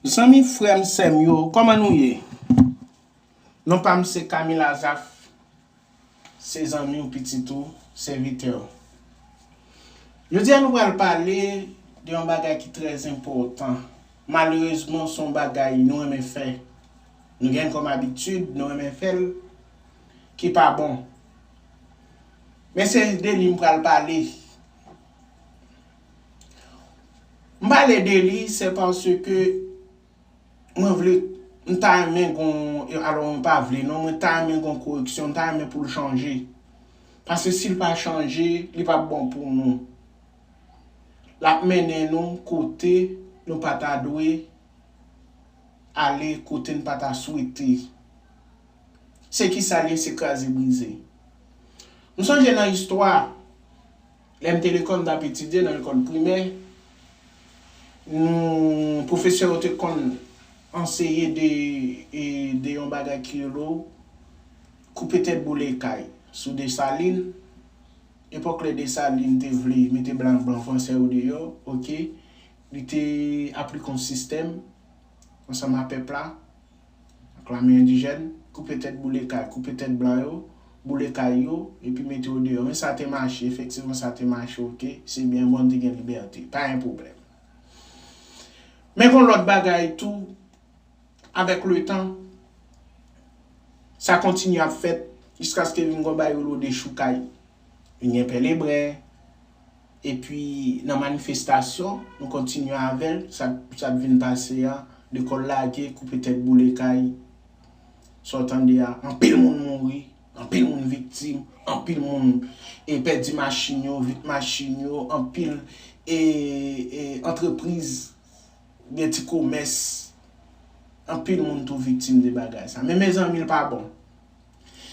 Zanmi frèm sèm yo kòman nou ye non pam se Camille Azaph se zanmiw pitit ou sèvitèw jodia nou pral pale de yon bagay ki trè enpòtan malerezman son bagay nou renmen fè nou gen kòm abitid nou renmen fèl ki pa bon men se de li mpral pale. M pale de li se paske mwen vle, m ta renmen gon, alò mwen pa vle non, mwen ta renmen gon koreksyon, m ta renmen pou l chanje. Paske si l pa chanje, li p ap bon pou nou. L ap mennen nou kote nou pa ta dwe ale, kote n pa ta swete. Se ki sa l ye, se kraze brize. M sonje nan istwa. Lè m te lekòl, m t ap etidye nan lekòl primè. Nou, pwofesè yo te konn anseye de, de yon bagay ki rele w, koupe tèt boule kay, sou Desalin. Epòk lè Desalin te vle mete blan, blan franse yo deyò, ok. Li te aplike yon sistèm ansanm a pèp la. ak lame endijèn, koupe tèt boule kay, koupe tèt blan yo, boule kay yo, epi mete yo deyò. Men sa te mache, efektivman sa te mache ok, se byen bon, n te gen libète, pa gen pwoblèm. Men gon lòt bagay tou, avèk letan, sa kontinye ap fèt jiskaske vin gon bagay yo rele dechoukay. Vin gen pè lebren. epi nan manifestasyon nou kontinye avèl sa t vin pase a lekòl lage koupe tèt boule kay sa w tande a anpil moun mouri anpil moun viktim anpil moun e pèdi machin yo vit machin yo anpil e antrepriz gen ti komès anpil moun tou viktim de bagay sa men mezanmi l pa bon.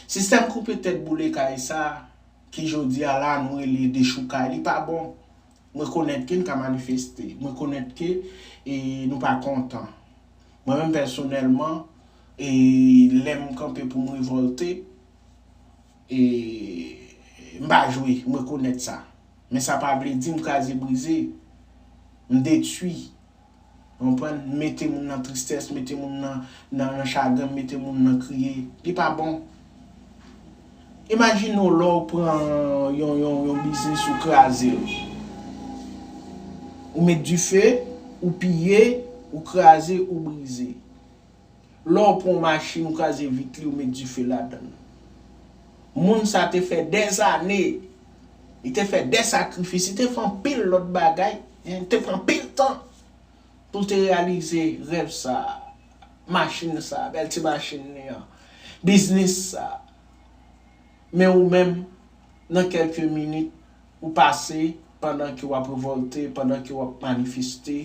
Sistèm koupe tèt boule kay sa ki jodia la nou rele dechoukay li pa bon. M rekonèt ke n ka manifeste. M rekonèt ke nou pa kontan. Mwen menm pèsonèlman lè m kanpe pou m revòlte m pa jwe. M rekonèt sa. Men sa pa vle di m kraze brize. M detwi. Ou konprann? Mete moun nan tristès, mete moun nan nan chagren, mete moun nan kriye. Li pa bon. Imajine w lè w pran yon yon biznis ou kraze l. Ou met dife, ou piye, ou kraze, ou brize. Lè w pran yon machin ou kraze vit li ou met dife ladan l. Moun sa te fè dèzane, li te fè dè sakrifis, li te fè anpil lòt bagay, li te pran anpil tan pou l te reyalize rèv sa a, machin sa a, bèl ti machin li an, biznis sa a. Men ou menm, nan kèlke minit, ou pase pandan ke w ap revòlte, pandan ke w ap manifeste,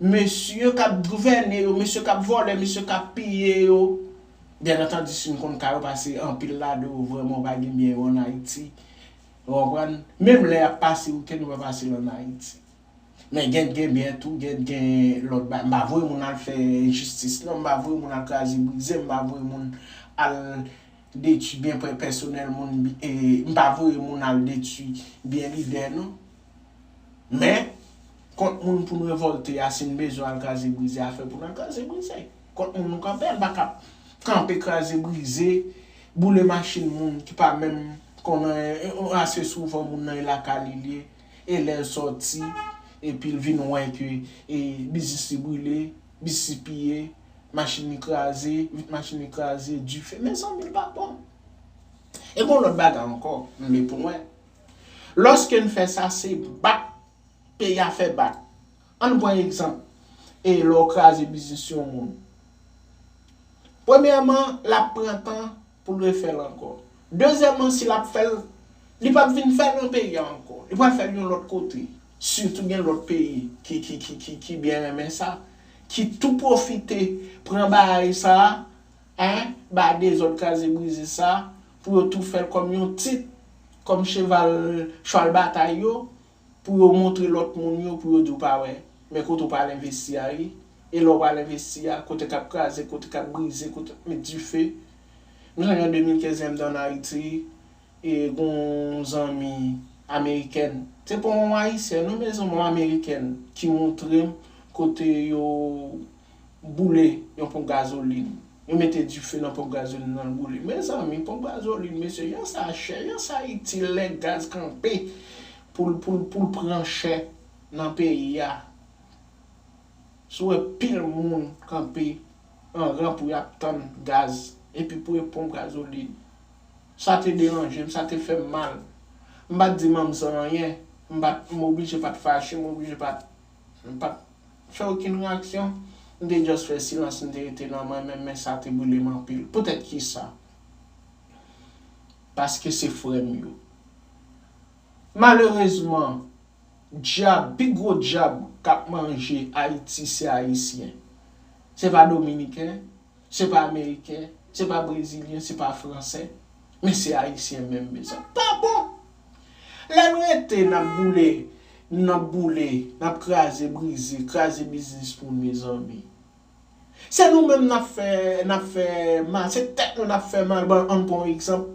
Mesye k ap gouvène yo, mesye k ap vòlè, mesye k ap piye yo, byen antandi si n konn ka yo pase anpil ladan yo vrèman ou pa gen byen yo ann Ayiti. Ou konprann? Menm lè y ap pase wikenn yo pa pase l ann Ayiti. Men gen gen byen tou, gen gen lòt bagay. M pa voye moun al fè enjistis non, m pa voye moun al kraze brize, m pa voye moun al detui byen pèsonèl moun, m pa voye moun al detui byen lidè non. Men, kont moun pou n revòlte a, si n bezwen al kraze brize a, fè pou n al kraze brize. Kont moun nou kanpe a, n pa ka kanpe kraze brize, boule machin moun ki pa menm konn anyen, ase souvan moun nan e lakay li l ye, e lè l sòti, epi l vin wè ke biznis li boule, biznis li piye, machin li kraze, vit machin li kraze, dife, mezanmi l pa bon. E gen yon lòt bagay ankò, m vle pou n wè, Lòske n fè sa, se bak peyi a fè bak. An n pran egzanp, e lè w kraze biznis yon moun. Premyèman, l ap pran tan pou l refè l ankò. Dezyèman, si l ap fè l, li pap vin fè l nan peyi a ankò. Li pral fè l yon lòt kote. Sitou gen lòt peyi ki byen renmen sa, ki tou pwofite pran bagay sa a, ba dezòd kraze brize sa a, pou yo tou fèl kòm yon tit, kòm cheval chwal batay yo, pou yo montre lòt moun yo pou yo di w pa wè, men kote w pral envesti a wi, e lè w pral envesti a, kote kap kraze, kote kap brize, kote kap met dife. M sonje an 2015 lè m te an Ayiti, e gon yon zanmi amerikèn, se pa yon ayisyèn non mezanmi yon amerikèn ki montre m kote yo. boule yon ponp gazolin. Yo mete dife nan ponp gazolin nan l boule. Mezanmi, ponp gazolin, mesye, jan sa chè, jan sa itil lè gaz kanpe pou l pou l pou l pran chè nan peyi a. Si w wè pil moun kanpe an ran pou y ap tann gaz, epi pou e ponp gazolin. Sa te deranje m, sa te fè m mal. M pa t di manm san anyen. M pa t, m oblije pa t fache, m oblije pa t M pat fè okenn reyaksyon. M te just fè silans m te rete nan mwen menm men sa te brile m anpil. Poutèt kisa? Paske se frè m yo. Malerezman, dyab, pi gwo dyab k ap manje Ayiti se Ayisyen. Se pa Dominiken, se pa ameriken, se pa brezilyen, se pa fransè, men se ayisyen menm mezanmi. Pa bon! Lè n rete n ap boule, n ap boule, n ap kraze brize, kraze biznis moun mezanmi. Se nou menm n ap fè, n ap fè mal, se tèt nou n ap fè mal. Bon, an n pran yon egzanp,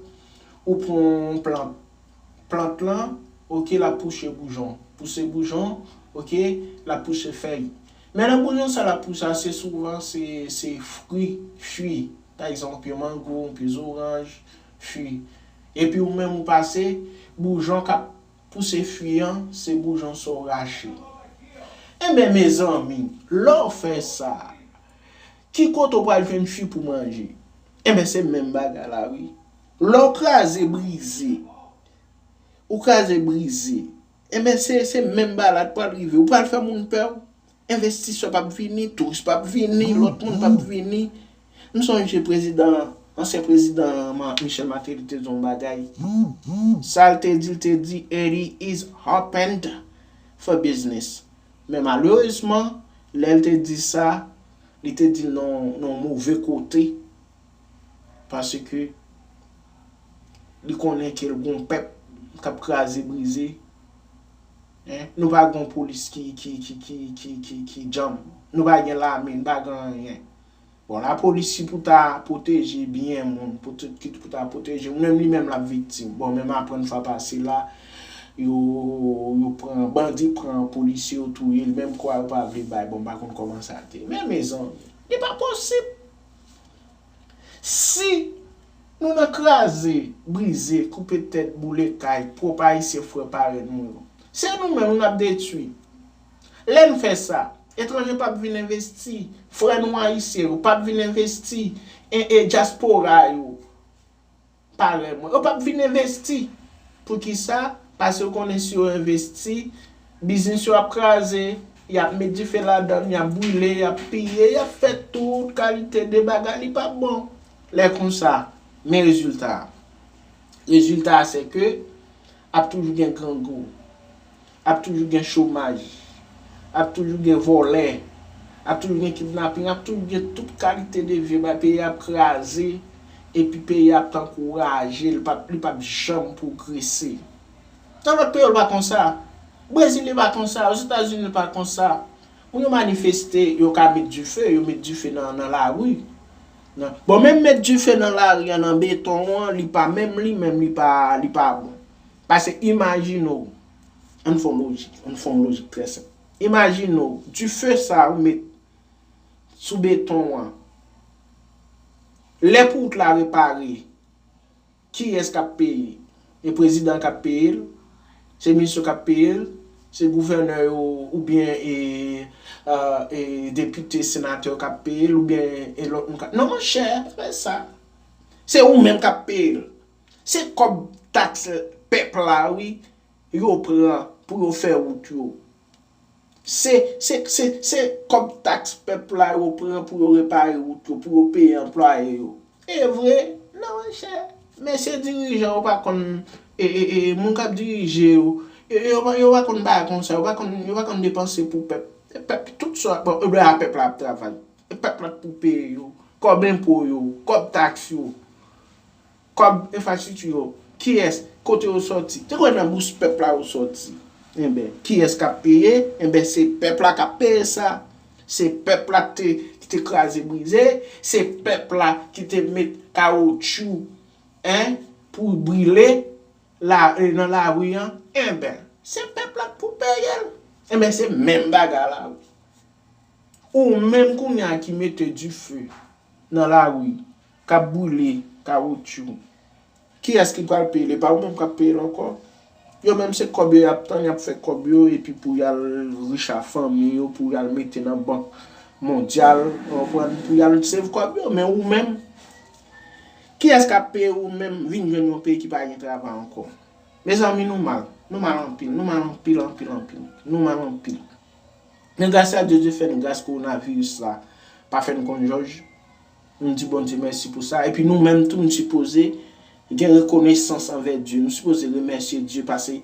ou pran yon plant. Plant lan, ok, l ap pouche boujon. Pouse boujon, ok, l ap pouse fèy. Men nan boujon sa l ap pouse a, se souvan se fri, fui. Pa egzanp, yon pye mango, yon pye zoranj, fui. Epi ou menm ou pase, boujon k ap pouse fui an, se boujon sa w rache. Enben mezanmi, lè w fè sa, ki kote w pral jwenn fui pou manje? Enben se menm bagay la wi. Lè w kraze brize, ou kraze brize, enben se menm bagay la k pral rive. Ou pral fè moun pè w, envestisè p ap vini, touris p ap vini, lòt moun p ap vini. M sonje prezidan, ansyen prezidan Michel Martelly te di yon bagay. Sa l te di, l te di, Haiti is open for business. Men malerezman, lè l te di sa, li te di l nan yon move kote. Paske li konnen ke l gon pèp k ap kraze brize. Nou pa gon polis ki djanm. Nou pa gen lame, nou pa gen anyen. Bon lapolis ki pou ta pwoteje byen moun, ki pou ta pwoteje moun, menm li menm l ap viktim. Bon menm aprann fwa pase la, yo pran, bandi pran polisye yo touye l menm kwa yo pa vle bay. Bon m pa konn kòman sa te ye. Men mezanmi, li pa posib! Si Nou nan kraze, brize, koupe tèt, boule kay pwòp Ayisyen frè parèn nou yo. Se nou menm n ap detwi. Lè n fè sa, etranje p ap vin envesti, frè nou Ayisyen yo p ap vin envesti, e e dyaspora yo. Parèy mwen yo pap vin envesti. Poukisa? Pase yo konnen si yo envesti, biznis yo ap kraze, y ap met dife ladan l, y ap brile, y ap piye, y ap fè tout kalite de bagay, li pap bon. Lè konsa, men rezilta a. Rezilta a sèke ap toujou gen grangou. Ap toujou gen chomaj. Ap toujou gen vòlè. Ap toujou gen kidnaping. Ap toujou gen tout kalite de vye bagay. Peyi a ap kraze. Epi peyi a ap tankou raje. Li pap, li pap janm pwogrese. Nan lòt peyi yo li pa konsa. Brezil li pa konsa. Ozetazini li pa konsa. Moun yo manifeste, yo ka met dife. Yo met dife nan, nan lari. Nan, bon menm met dife nan lari an, nan beton an, li pa menm li menm li pa, li pa bon. Pase imajine w, an n fè yon lojik, an n fè yon lojik trè senp. Imajine w, dife sa ou met sou beton an, lè pou wout la repare, kiyès k ap peye? E prezidan an k ap peye l? Se minis yo k ap peye l? Se gouvènè yo oubyen e depite, senatè yo k ap peye l oubyen e lòt moun k ap. Non monchè, pa fè sa. Se ou menm k ap peye l. Se kob tax pep la wi yo pran pou yo fe rout yo. Se se se se kob tax pep la yo pran pou yo repare rout yo pou yo peye anplwaye yo. Evre nan monchè mesye dirijan yo pa konn e e e moun kap dirije yo yo pa yo pa konn bagay konsa yo pa konn yo pa konn depanse pou pèp e pèp tout sa bon e byen a pèp la ap travay e pèp la pou peye yo kòb enpo yo kòb taks yo. Kòb enfrastrikti yo, kiyès, kote yo sòti? Te kwè nan bous pèp la yo sòti. Enben, kiyès k ap peye? Enben, se pèp la k ap peye sa. Se pèp la ki te kraze brize, se pèp la ki te met kawotchou pou brile nan lari an. Enben, se pèp la k pou peye l. Enben, se menm bagay la wi. Ou menm kounye a ki mete dife nan lari k ap boule kawotchou kiyès ki pral peye l e pa ou menm k ap peye l ankò yo menm se kòb yo y ap tann y ap fè kòb yo epi pou y al rich a fanmi yo pou y al mete nan bank mondyal ou konprann pou y al save kòb yo men ou menm kiyès k ap peye ou menm vin jwenn yon peyi ki pa gen travay ankò mezanmi nou mal nou mal anpil nou mal anpil anpil anpil nou mal anpil men grasyadyè Dye fè n gras kowonaviris la pa fè n konn jòj Nou di Bondye mèsi pou sa. Epi nou menm tou nou sipoze gen rekonesans anvè Dye. Nou sipoze remèsye Dye pase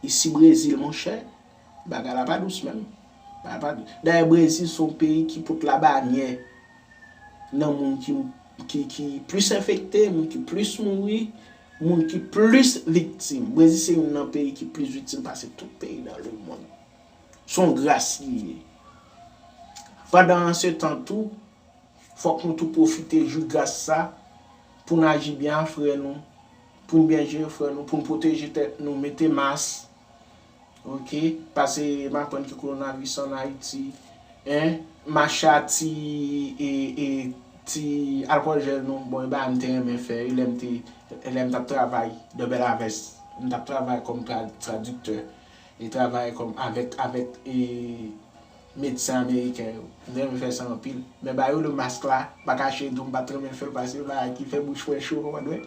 isi Brezil monchè, bagay la pa dous menm. Dayè Brezil se yon peyi ki pot labanyè nan moun ki plis enfekte, moun ki plis mouri, moun ki plis viktim. Brezil se youn nan peyi ki plis viktim pase tout peyi nan lemonn. Se yon gras li ye. Pandan se tan tou. Fòk nou tou pwofite jwi gras sa pou n aji byen a frè nou, pou n byen jere frè nou, pou n pwoteje tèt nou, mete mas ok, pase m aprann ke kowonavis an Ayiti en, mache a ti e ti alkòl jèl nou, bon e bagay m te renmen fè wi lè m te lè m t ap travay dè Bèlavès, m t ap travay kòm tradiktè e travay kòm avèk avèk e. Medsen ameriken yo. M renmen fè sa anpil. Men ba yo le mask la. M pa kache di w m pat renmen fè l pase yon bagay ki fè bouch mwen cho ou konprann mwen.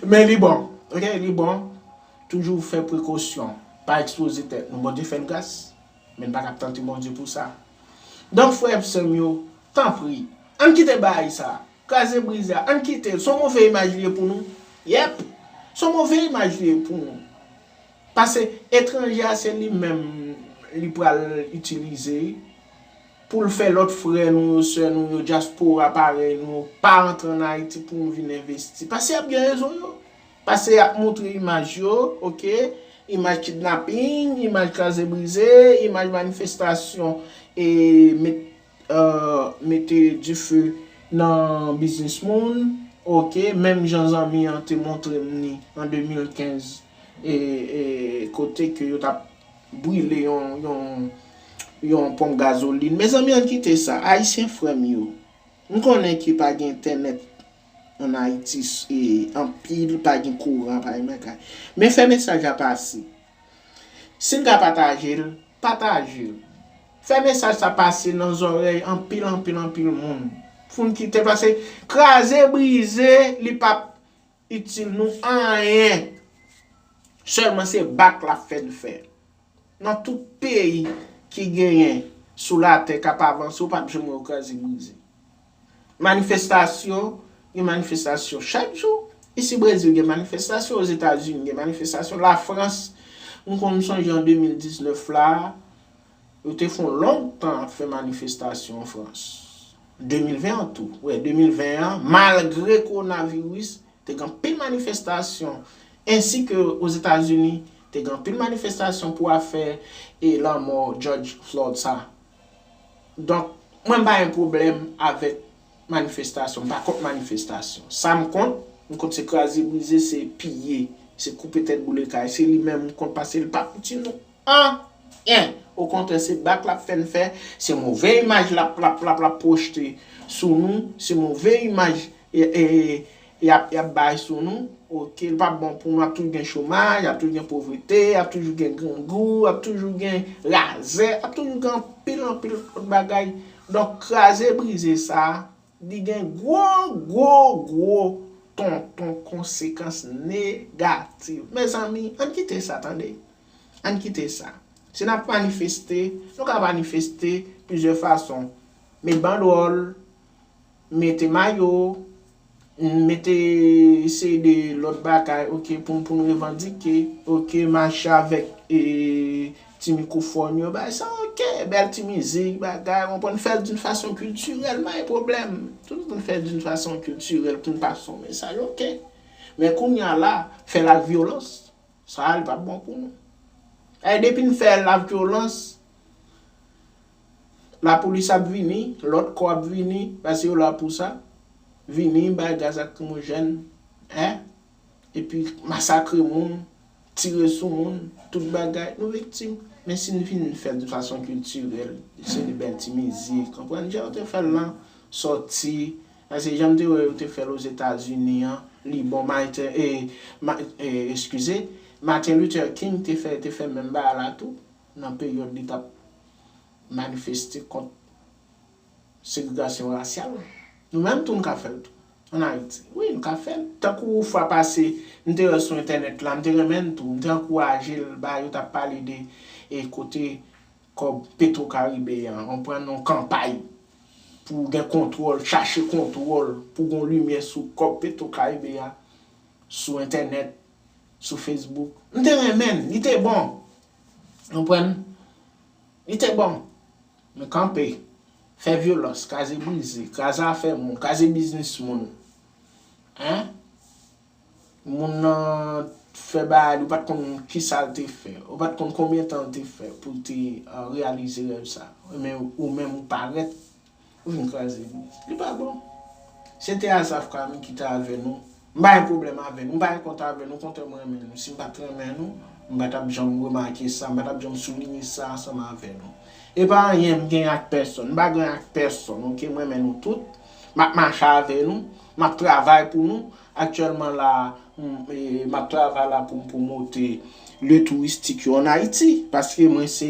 Men li bon. Ok li bon. Toujou fè prekosyon. Pa ekspoze tèt nou. Bondye fè n gras. Men n pa ka ap tante Bondye pou sa. Donk frè ak sè m yo, tanpri. Ann kite bagay sa. Kraze brize a. Ann kite l. S on move imaj li ye pou nou. Yep! S on move imaj li ye pou nou. Pase etranje a se li menm li pral itilize pou l fè lòt frè nou yo, sè nou yo, dyaspora parèy nou yo pa antre an Ayiti pou nou vin envesti. Pase y ap gen rezon yo. Pase y ap montre imaj yo, ok, imaj kidnaping, imaj kraze brize, imaj manifestasyon e met. mete dife nan biznis moun ok menm jan zanmi an te montrem ni an 2015 kote ke yo tap brile yon ponp gazoline mezanmi ann kite sa ayisyen frèm yo m konnen ke pa gen entènèt an ayiti anpil pa gen kouran pa gen bagay men fè mesaj la pase. Sin ka patajel, patajel. Fè mesaj sa pase nan zòrèy anpil anpil anpil moun. Poun kite pase kraze brize li pap itil nou anyen. Sèlman se bak lap fè n fè. Nan tout peyi ki genyen sou latè kap avanse ou pap janm wè yo kraze brize. Manifestasyon, gen manifestasyon chak jou, isi Brezil gen manifestasyon, Ozetazini gen manifestasyon, Lafrans, m konn m sonje an 2019 la, yo te fon long tan ap fè manifestasyon an Frans. 2020 an tou, wè 2020 an, malgre kowonaviris, te gen anpil manifestasyon, ensi ke Ozetazini, te gen anpil manifestasyon pou afè e lanmò Jòj Flòd sa. Donk, mwen m pa gen pwoblèm avèk manifestasyon. M pa kont manifestasyon. Sa m kont, m kont se kraze brize, se piye, se koupe tèt boule kay. Se li menm m kont pase l pa p itil nou anyen. Okontrè, se bak l ap fè n fè, se move imaj l ap pwojte sou nou, se move imaj Yap yap bay sou nou ok li pap bon pou nou ap toujou gen chomaj ap toujou gen povrete ap toujou gen grangou ap toujou gen razè ap toujou gen anpil anpil lòt bagay donk kraze brize sa li gen gwo gwo gwo tonton konsekans negativ mezanmi ann kite sa tande ann kite sa si nap manifeste nou ka manifeste plizyè fason met bandwòl Mete mayo, n mete seri de lòt bagay ok pou pou n revandike ok mache avèk e ti mikwofòn yo bay sa ok bèl ti mizik bagay ou konprann fè l d'un fason kiltirèl pa gen pwoblèm tout moun fè d'un fason kiltirèl pou n pase yon mesaj ok men kounya la fè l ak vyolans sa a li pap bon pou nou e depi n fè l ak vyolans La polis ap vini, lòt kò ap vini, paske yo la pou sa, vini bay gaz akrimojèn, eh, epi masakre moun, tire sou moun, tout bagay, nou viktim. Men si n fin fè l de fason kiltirèl, se de bèl ti mizik, konprann, jan yo te fè l lan sòti, paske jan m te wè yo te fè l Ozetazini an, li bon, Mayte, eh, eh, eskize, Martin Luther King te fè, te fè menm bagay la tou. nan peryòd li t ap manifeste kont segregasyon rasyal. Nou menm tou n ka fè l tou, ann Ayiti. Wi, n ka fè l. Tankou fwa pase, m te wè sou entènèt la, m te renmen l tou, m te ankouraje l, ba yo t ap pale de kote kòb Petwo Karibe a, on konprann, yon kanpay pou gen kontwòl, chache kontwòl, pou gen yon limyè sou kòb Petwo Karibe a, sou entènèt, sou Facebook. M te renmen l, li te bon. Konprann? Li te bon. Men kanpe, fè vyolans, kaze brize, kraze afè moun, kraze biznis moun. Hein? Moun nan fè bagay li ou pat konn kisa l te fè. Ou pat konn konbyen tan l te fè pou l te reyalize rèv sa. Men ou menm ou parèt. Ou vin kraze nou. Li pa bon. Se te Azaf Kami ki te avè nou. M pa gen pwoblèm avè nou. M pa gen kont avè nou. Okontrè m renmen nou. Si m pa t renmen nou, m pa t ap janm remake sa. M pa t ap janm soulinye sa ansanm avè nou. E pa anyen m genyen ak pèsonn. M pa gen anyen ak pèsonn, oke. M renmen nou tout. M ap mache avè nou. M ap travay pou nou. Aktyèlman la a, m ap travay la pou m pwomote lye touristik yo an Ayiti, paske mwen se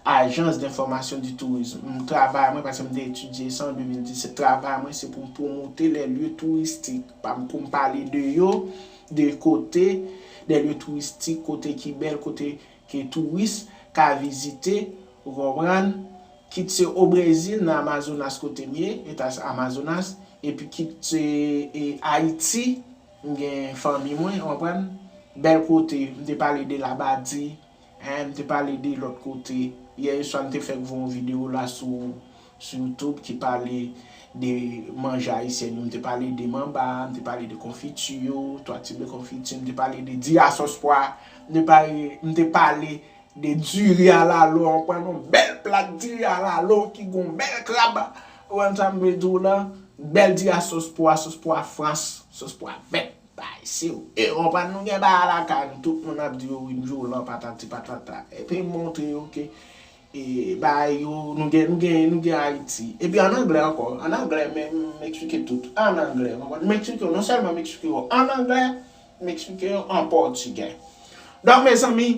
Agence d'information du tourisme. M travay mwen, paske m te etidye sa an 2017, travay mwen se pou m pwomote les lieux touristiques pa m, pou m pale de yo, de kote, des lieux touristiques, kote ki bèl, kote Ke touris ka vizite, ou konprann, kit se o Brezil nan Amazonas kote m ye, Eta Amazonas, epi kit se Ayiti, m gen fanmi mwen, ou konprann, bèl kote, m te pale de Labadi, hein, m te pale de lòt kote, yè oswa m te fèk voye yon video la sou sou youtube ki pale de manje ayisyèn yo, m te pale de manba, m te pale de konfiti yo, 3 tip de konfiti, m te pale de di a sòs pwa, m te pale, m te pale de diri a lalo, an pran yon bèl plat diri a lalo ki gon bèl krab, ou konprann sa m vle di w lan, bèl diri a sòs pwa, sòs pwa frans, sòs pwa vèt, bay si w, e konprann nou gen bagay lakay nou, tout moun ap di yo wi, m di w lan patati patata, epi m montre yo ke Bagay yo nou gen nou gen nou gen Ayiti. Epi an anglè ankò. An anglè m m eksplike tout. An anglè. Konprann? M eksplike yo non sèlman m eksplike yo an anglè, m eksplike yo an pòtigè. Donk mezanmi,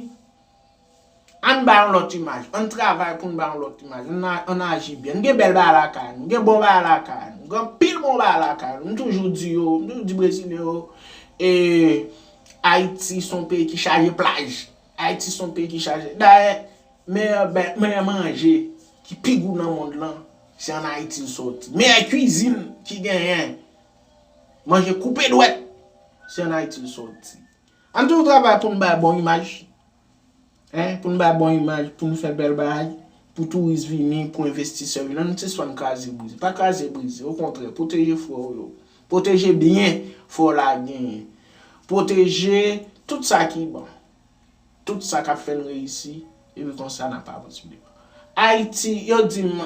ann bay yon lòt imaj. Ann travay pou n bay yon lòt imaj. Ann a ann aji byen. Nou gen bèl bagay lakay nou. Nou gen bon bagay lakay nou. Nou gen anpil bon bagay lakay nou. M toujou di yo, m toujou di brezilyen yo ee Ayiti s on peyi ki chaje plaj. Ayiti s on peyi ki chaje. Dayè Meyè manje ki pi gou nan mond lan se an Ayiti l sòti. Meyè kwizin ki genyen manje koupe dwèt se an Ayiti l sòti. Ann toujou travay pou n bay bon imaj, pou n bay bon imaj, pou n fè bèl bagay, pou touris vini, pou envestisè vini. An nou sispann kraze brize. Pa kraze brize, okontrè, pwoteje frè w yo. Pwoteje byen frè w la genyen. Pwoteje tout sa ki bon. Tout sa kap fèl reyisi epi konsa nap avanse. Ayiti yo dim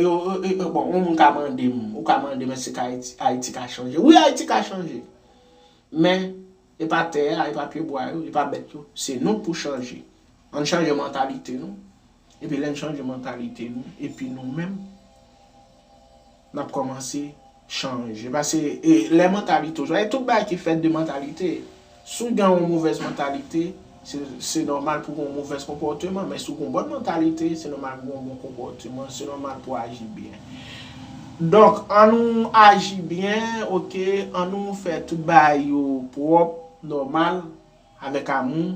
yo bon yon moun ka mandem ou ka mandem eske ka ayiti ka chanje wi ayiti ka chanje men epa tè a epa pye bwa yo epa bèt yo se nou pou chanje ann chanje mantalite nou. Epi lè n chanje mantalite nou epi nou menm n ap kòmanse chanje pase lè mantalite w chanje e tout bagay ki fèt de mantalite si w gen yon movèz mantalite se nòmal pou w gen yon movèz konpòteman men si w gen yon bòn mantalite se nòmal pou w gen yon bon konpòteman se nòmal pou w aji byen donk an nou aji byen ok an nou fè tout bagay yo pwòp nòmal. Avèk amou,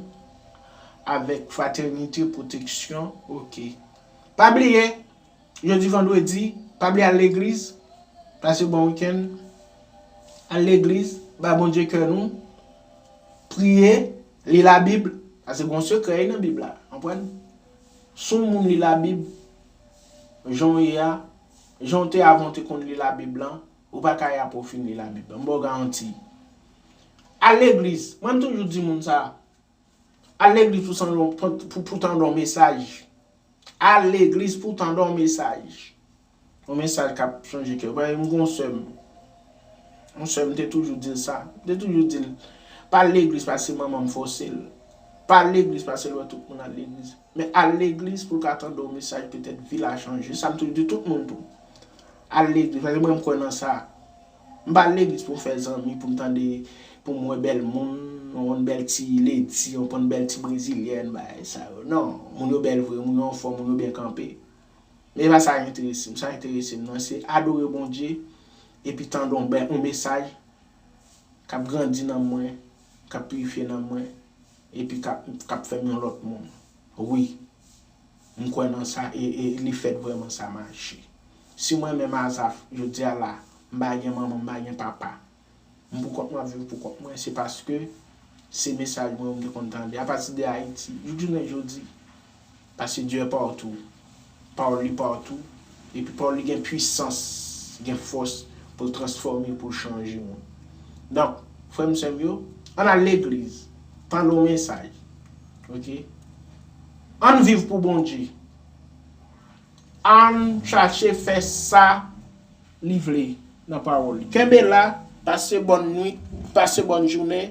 avèk fratènite, pwoteksyon, ok. Pa bliye, jodi vandredi, pa bliye al legliz, pase bon wikenn, al legliz, bay Bondye kè nou, priye, li labib, pase gon sekrè wi nan bib la, konprann? Si yon moun li labib, jan w ye a, jan w te avan w te konn li labib lan, Ou pa ka yap ou fin li la bib lan. M baw garanti. Al legliz. Mwen m toujou di moun sa. Al legliz pou sandon pou tandon w mesaj. Al legliz pou tandon w mesaj. Yon mesaj kap chanje kè w. Paske m gen yon sè m. Yon sè m te toujou di l sa. M te toujou di l. Pa al legliz paske manman m fose l. Pa al legliz paske l wè tout moun al legliz. Men al legliz pou l ka tande yon mesaj petèt vi l a chanje. Se sa m toujou di tout moun tou. Al legliz paske mwen m kwè nan sa. M pa al legliz pou m fè zanmi, pou m tande, pou m wè bèl moun, yon bèl ti ledi, yon konn bèl ti brezilyèn, bagay sa yo. Non, moun yo bèl vre, moun yo anfòm, moun yo byen kanpe. Men e pa sa ki enterese m. Sa ki enterese m nan se adore Bondye epi tande yon bèl yon mesaj k ap grandi nanm mwen, k ap pirifye nanm mwen. Epi kap fèm yon lòt moun. Wi. M kwè nan sa e li fèt vrèman sa mache. Si mwen menm Azaf, jodia la, m pa gen manman, m pa gen papa. M pou kont mwen ap viv pou kont mwen, se paske se mesaj mwen yo m te konn tande apati de Ayiti jouk jounen jodi. Paske Dye partou, pawòl li partou, epi pawòl li gen pwisans, li gen fòs pou l transfòme, pou l chanje moun. Donk, frè m sè m yo, ann al legliz, tande yon mesaj, ok, ann viv pou Bondye, ann chache fè sa li vle nan pawòl li. Kenbe la, pase bòn nwit, pase bòn jounen,